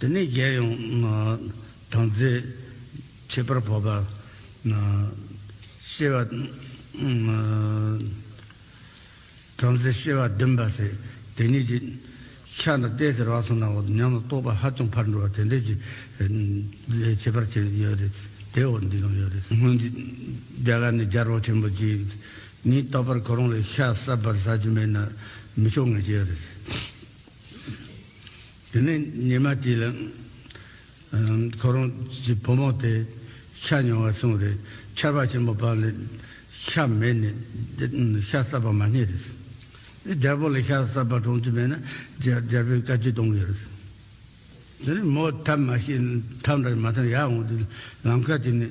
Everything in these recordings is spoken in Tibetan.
དེ་ནས་རྒྱལ་ཡོངས་དང་རྩེ། ཁྱད་པར་བོད་པ། ཤེས་པ། བྲམ་ཟེ་ཤེས་པ་བདུན་པ། དེ་གཉིས་ཀྱི། ཕྱག་དང་རྟེན་ཟེར་བ་སོགས་ནང་འོག་ཏུ་ཉམས་ལ་རྟོགས་པ་ཧ་ཅང་ཕར་འགྲོ་བ་དེ་འདྲའི་ཆེ། ཁྱད་པར་ཅན་ཡོད་རེད། དེ་འོག་འདི་ནང་ཡོད་རེད། སྔོན་གྱི་རྒྱ་གར་ནས་རྒྱལ་རོང་ཆེན་པོ་གཅིག། ཉིད་རྟག་པར་གོ་རང་ལས་ཤ་ཟ་བར་ཟ་གྱི་མེད་ན། མི་ཆོག་ངེས་ཅན་ཡོད་རེད། དེ་ནས་ཉི་མ་དེ་ལ། ཁོ་རང་གི་བུ་མོ་དེ་ཤ་ཉོ་བར་སོང་རེད། ཆར་བ་ཆེན་པོ་བབས་ལ་ཤ་མེད་ནས། ཤ་བསགས་པ་མ་རྙེད་རེད། རྒྱལ་པོ་ལ་ཤ་བསགས་པ་གྲོང་ཅི་མེད་ན་རྒྱལ་པོས་བཀའ་ཁྱི་གཏོང་གི་རེད། དེ་ནས་མོ་ཐབས་མ་ཤེས་ཐབས་འདྲ་མ་ཐོན་ཡར་འོང་དུས་ལམ་ཁ་དེ་ནས།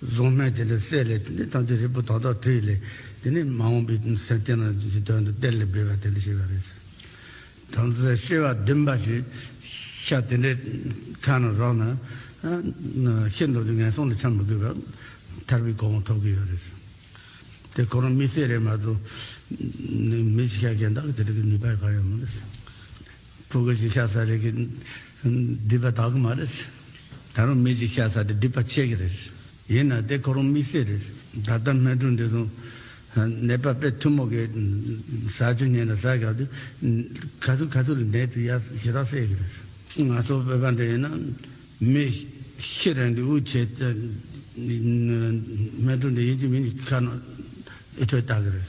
གཟུངས་སྨན་དེ་ལས་གསལ་ལས་དེ་ནི་ཐམས་ཅད་རིལ་བུ་དག་དག་དྲི་ཡི་ལས། དེ་ནི་མ་འོངས་པའི་སེམས་སྐྱེ་ན་ཅི་དོན་དུ་གཏེར་ལས་སྦས་པ་དེ་འདྲ་བྱེད་པ་རེད། དམ་རྫས་ཤེས་པ་བདུན་པ་ཞེས་བྱ་དེ་འདྲའི་ཁ་ན་རོག་ན། ཤིན་ཏུ་ནས་ངན་སོང་ལ་འཁྱམས་མི་དགོས་པར་ཐར་པའི་གོ་འོང་ཐོབ་ཀྱི་ཡོད་རེད། དེ་ཁོ་རང་མི་སེར་རེད་མ་གཏོགས། མི་ཆེ་ཁག་གཞན་དག་གིས་དེ་འདྲ་གི་ནུས་པ་ག་ཡང་མེད་རེད། ཕོ་རྒོད་ཅིག་ཤ་ཟ་རེས་ཀྱི། སྡིག་པ་དག་གི་མ་རེད། ད་རུང་མི་ཅིག་ཤ་ཟ་དེ་སྡིག་པ་བྱེད་ཀྱི་རེད། ཡིན་ན་དེ་ཁོ་རང་མི་སེར་རེད། ད་ལྟ་སྨན་ཁྲུང་འདི་དང། ནད་པ་དཔེ་ཐུ་མོ་གི། ཟ་ཆུ་ཉན་ལ་ཟ་བཞག་དུས། ག་ཚོད་ག་ཚོད་ལ་ནད་དེ་ཡར་ཞེ་དྲག་སེལ་གྱི་རེད། ང་ཚོ་བོད་པ་འདི་ཡིན་ན། མི། ཤི་རན་དུས་དབུགས་ཆད། སྨན་ཁྲུང་འདི་ཡིན་གྱི་མིན་གྱི་ཁ་ན། ཨི་ཁྲོད་བལྟ་གི་རེད།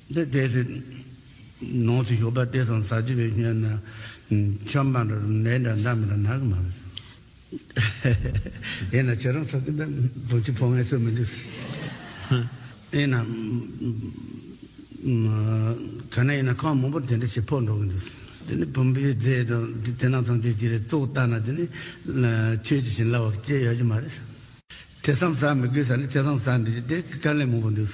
འདི་ལྟའི་ཚེ། ནང་ཚེ་ཞོགས་པ་སྟེ་སང་ཟག་བྱེད་པའི་སྨྱོན། ཆོམ་པ་འདྲ་ནད་འདྲ་མདའ་མི་འདྲ་ནག་གི་མ་རེད། དེས་ན་ཁྱེད་རང་ཚོ་གི་འདི་བུ་ཆུ་ཕོ་ངན་སོས་མི་འདུག། དེས་ན། ཐོས་ན་ཡིན་ན་ཁང་མང་པོར་དེ་འདྲ་ཞིག་ཕོག་འགྲོ་གི་འདུག། དེ་ནི་བུམ་པའི་རྫས་དང་དེ་དེ་ནང་ཚང་ཆོས་ཀྱི་རེད་གཙོ་བོ་ལྟ་ན་དེ་ནི། ཆོས་ཀྱི་བྱིན་རླབས་བར་བཅད་ཡོད་ཀྱི་མ་རེད། ཐེ་ཚོམ་ཟ་མི་དགོས་ས་ནི་ཐེ་ཚོམ་ཟ་འདི་ལྟའི་དཀའ་ལས་མང་པོ་འདུག།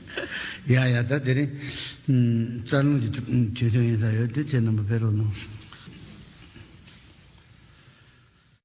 ཡ་ཡ་ད་དེ་རིང་རྩ་རླུང་གི་དུས་ཐུང་ཡིན་ས་ཡོད་དེ་ཁྱེད་རྣམ་པ་ཕེ་རོག་གནང་སོང།